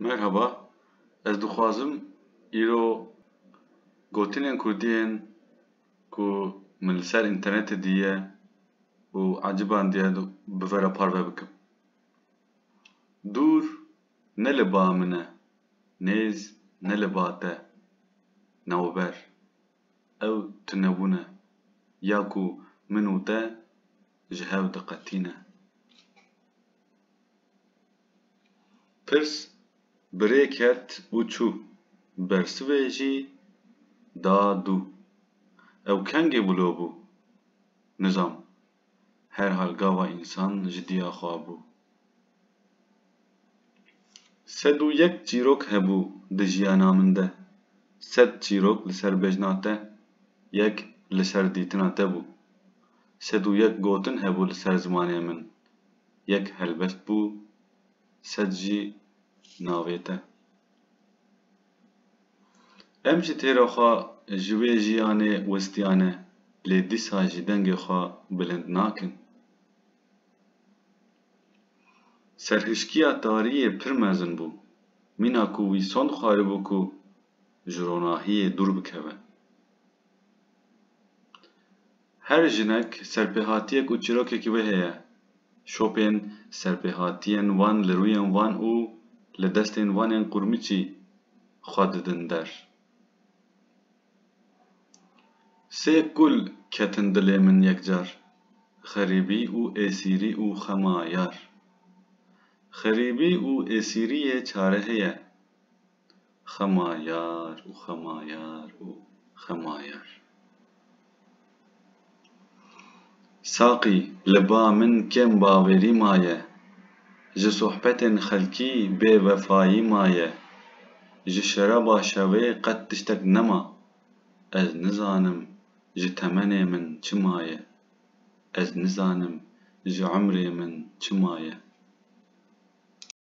Merhaba, ez dixwazim îro gotinên kurdî yên ku min li ser înternetê dîye û eciban dîye bi ve re parve bikim. Dûr ne li ba min e, nêz ne li ba te, navber. Ew tunebûn e ya ku min û te ji hev diqetîne. Pirs bi rê ket û çû. Bersivê jî da dû. Ew kengê bilo bû? Nizam. Herhal gava însan ji diya xwe bû. Sed û yek çîrok hebû di jiyana min de. Sed çîrok li ser bejna te, yek li ser dîtina te bû. Sed û yek gotin hebû li ser zimanê min. yek helbest bû sed jî navê te. Em jî têra xwe ji wê jiyanê westiyane lê dîsa jî dengê xwe bilind nakin. Serhişkiya tariyê pir mezin bû, mîna ku wî son dixwaribû ku ji ronahiyê dûr bikeve. Her jinek serpêhatiyek û çîrokekî wê heye. Şopên serpêhatiyên wan li rûyên wan û li destên wan ên qûrmiçî xwe didin der. Sê kul ketin dilê min yekcar, xerîbî û êsîrî û xema yar. Xerîbî û êsîriyê çare heye. Xema yar û xema yar û xema yar. Saqî, li ba min kêm bawerî maye, ji sohbetên xelkî bêvefayî maye, ji şeraba şevê qet tiştek nema. Ez nizanim ji temenê min çi maye, ez nizanim ji emrê min çi maye.